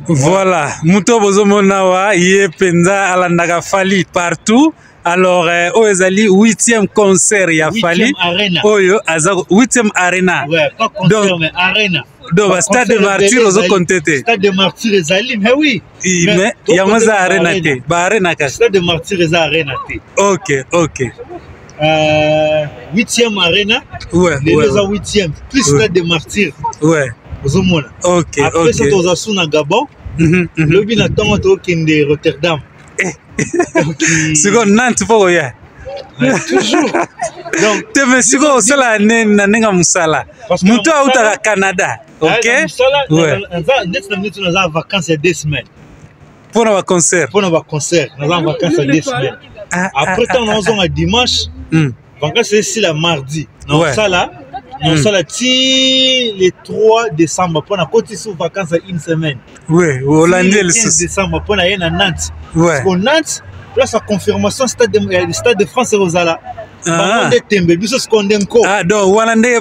Voilà, moto bozomona wa ye mpenza alandaka Fally partout. Alors euh, oyo ezali 8e concert ya Fally oyo aza 8e arena. Ouais, pas concert Donc, mais arena. Donc ba stade de martyr ozo compter te. Stade de martyr ezali mais oui. I, mais, mais yango eza arena te, ba arena kaka. Stade de martyr eza arena te. OK, OK. 8e euh, arena lelo eza 8e plus stade de martyr ozomona après ça toza su na gabon mhm, mhm. lobi na ntongo tokende rotterdam eh. sikoyo nante mpo koya toujours te me sikoyo osala na ndenge mosala moto autaka canada ok ndeti na minute naza vacance ya deux semaines mpo na baconcert mpo na baconcert naza na vacance ya deux semaine ah, ah, après ntango ah, naozonga dimanche hmm. vacance esila mardi naosala naosala hmm. ti le 3 décembre mpo na koti sous vacance ya une semaine oui olandi ye lisusu décembre mpo na ye na nantes o nantes place ya confirmation stade de, stade de france ekozala bango nde tembe biso sikoyo nde nko donc wana nde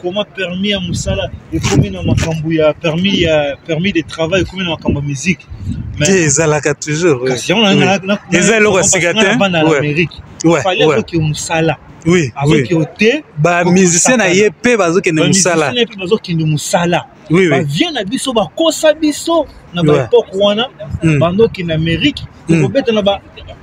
comment permis ya mosala ekomi na makambo ya permis ya permis de travail ekomi na makambo ya musique te ezalaka toujours eza eloko ya sika te bana na amérique fali azoki mosala azokende te bamusicien na ye mpe bazokende mosala oui, oui. bavie na biso bakosa biso na baepoke ouais. wana mm. bandoki na amérique mm. kobeta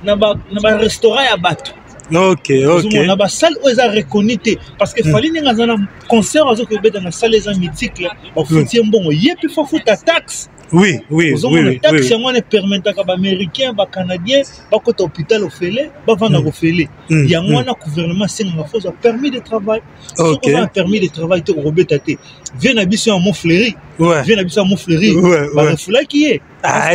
na barestaurant ya bato okay, okay. na basale oyo eza reconi te parce que mm. fali ndenge aza na concert azoki kobeta na sale eza mythique bafuti ye mm. mbongo ye mpe fafuta taxe oui, oui, ozomona oui, taxe yango wana epermetaka baaméricain bacanadien bakota hôpital ofele bavanda mm. kofele mm. yango mm. wana gouvernement asengaka fo ozwa permis de travail soki oza na permis de travail te okobeta te vie na biso ya mofleri ouais. vie na biso ya mofleri ouais, barefulaki ye ah,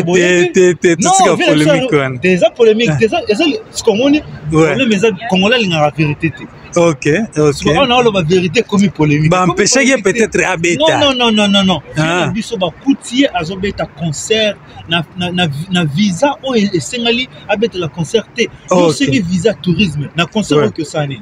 eza polémique eza sikomoni problème eza kongola alingaka vérité te ok ok on a loba vérité ekomi polémique ba empêcher ye peut-être abeta non non non non non ah. biso ba coutier azo beta concert na na na, na visa oyo esengeli abeta la concert te okay. yo sengi visa tourisme na concert okay. oyo osani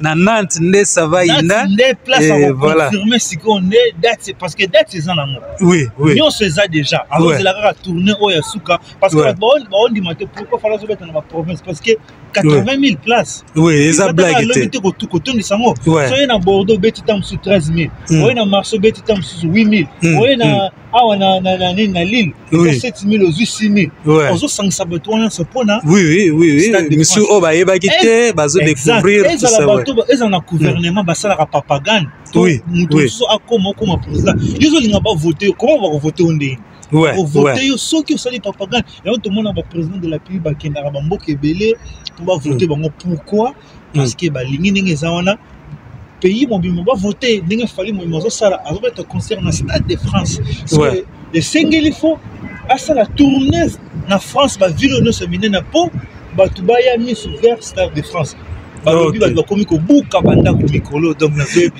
na Nantes nde ça va inda nde place eh, à voilà. confirmer sikoyo nde date c'est parce que date eza nango oui oui nyonso eza déjà alors ozela kaka tourner oyo ya suka parce que baondima te pourquoi fala ozobeta na baprovince parce que 80 000 places oui eza blague te te kotondisa yango soye na bordeaux obeti ntango mosusu 13 000 oye na marché obeti ntango mosusu 8 000 oye na awa na na na nini na lille Oui. 7000 ozwi 6000 Ouais. ozosangisa bato wana nyonso mpo na oui oui oui oui Stade de misu France. oyo bayebaki Eh, te bazo découvrir Exact. tout ezala ça ouais. bato ba- ezala na gouvernement basalaka papagane to Oui, moto oui. mosusu akoma okoma président yo ozolinga bavote yo koma bakovote yo ndenge ouais ovote ouais yo soki osali papagane yango tomona baprésident de la pays bakendaka bamboka ebele mpo bavote bango pourquoi mm. parce que balingi ndenge eza wana pays mobimba bavote ndenge fali mobimba azosala azobeta concert na stade de france ouais. esengeli fo asala tourne na france bavile nyonso minene mpo bato baya miso vers stade de france balobi bato bakomi kobuka bandako mikolo donc nazoyebi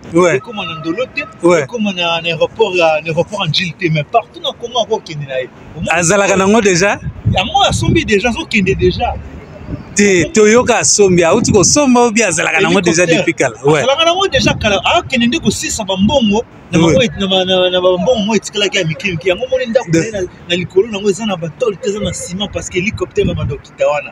ouais. ekoma na ndolo te ouais. ekoma na aéroport ya aéroport angile te mais partout na congo akokende na ye azalaka nango déjà yango asombi déjà azokende déjà te toyoka asombi auti kosomba obi azalaka nango déjà depuis kala azalaka nango déjà kala akende nde kosisa bambongo na bambongo moko etikalaki ya mike mike yango moni ndako na likolo nango eza na batole te eza na ciment parce que hélicoptère ya bandokita wana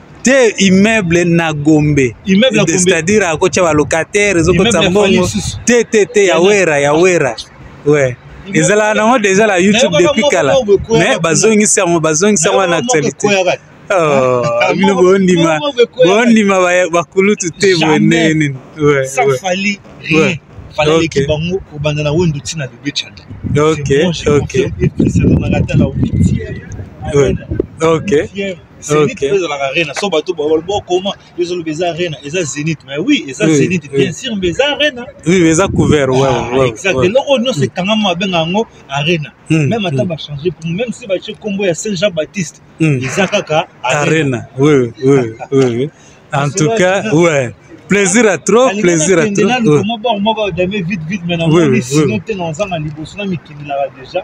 te immeuble na gombe c'est-à-dire akotya balocataire ezokotisa mbongo te te te ya wera ya wera we ezalaka nango deja na youtube depuis kala mais bazongisi yango bazongisi yango na actualité oh, bino bondima bondima bakulutu te boye ndenge nini fala okay. leki bango kobanda na wendo ntina bebe chanda ok ok ok Zenith okay. ezalaka arena so bato bokoma ezoloba eza arena eza zenith mais oui eza oui, zenith oui. bien sûr mais eza arena oui eza couvert ah, ouais, ouais, exact ouais. eloko nyonso ekangama babenga yango arena mm, même ata mm. bachange pour même si batie nkombo ya saint jean baptiste mm. eza kaka arena oui, oui, oui. en tout cas ouais plaisir à trop plaisir à trop oui. oui, oui. sinon te nazanga liboso na mikindelaka déjà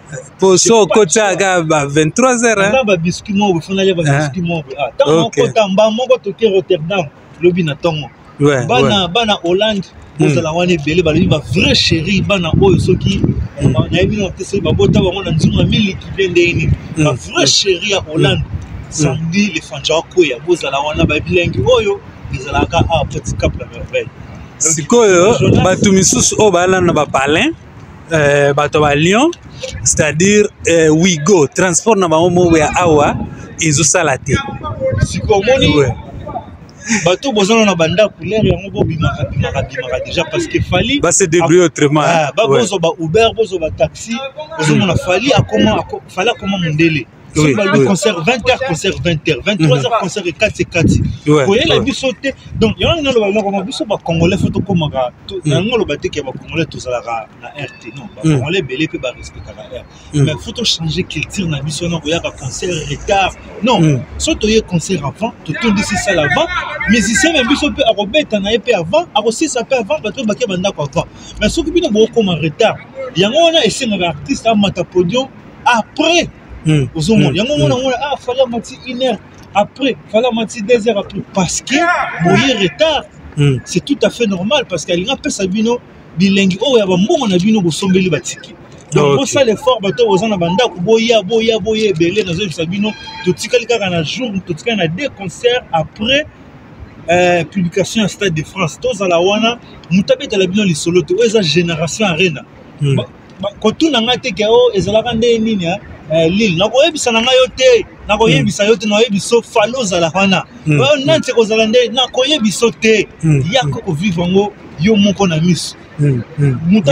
poso okotaka kaka ba 23 heure nga ba biscuit moko bofonaki ba biscuit moko ah tango okota mba moko toke rotterdam lobi na tongo bana bana hollande bozala hmm. wana ebele balobi ba vrai chéri bana oyo soki hmm. nayebi na te soki babota bango na nzunga miliki mpe ndenge nini hmm. ba vrai chéri ya hollande samedi le fanja akweya bozala wana babilengi oyo ezalaka awa petit cap la merveille sikoyo bato misusu oyo balanda bapalin eh, bato ba lyon c'est-à-dire eh, wigo transport na bango moko ya awa ezosala te sikoyo omoni ouais. bato bozana na bandako lere yango bobimaka bimaka bimaka déjà parce que fali base débrouille autrement ah, bozwa ba uber bozwa ba taxi ozomona fali akoma fali akoma mondele soki balobi concert 20 heures concert 20 heures 23 heures concert ekati ekati koyela biso te donc yango ngai oloba moko biso bacongolais fo tokomaka yango oloba te ke bacongolais tozalaka na air te non bacongolais ebele mpe barespectaka air mais fo tochange culture na biso na koyaka concert retard non so toye concert avant totondisi sale avant musicien na biso mpe akobeta na ye mpe avant akosisa mpe avant bato oyo bake bandako avant mais soki bino bokokoma retard yango wana esengaka artiste amata podium après hmm. ozomona hmm. yango omona mona ah fali amati une heure après fali amati deux heures après parce que boye retard hmm. c'est tout à fait normal parce que alingi apesa bino bilengi oyo ya bambongo na bino bosombeli batiki donc bosala effort bato oyo boza na bandako boya boya boya ebele nazoyebisa bino totikali kaka na jour totikali na deux concert après euh, publication ya stade de france tozala wana moto abetala bino lisolo te oyo eza génération arena kotuna ngai te ke o oh, ezalaka nde nini eh? eh, lile nakoyebisa na ngai yo te nakoyebisa yo te nakoyebiso fale ozalaka wana hmm. oyo hmm. nani te kozala nde nakoyebiso te hmm. yako kovivre yango yo moko na miso moto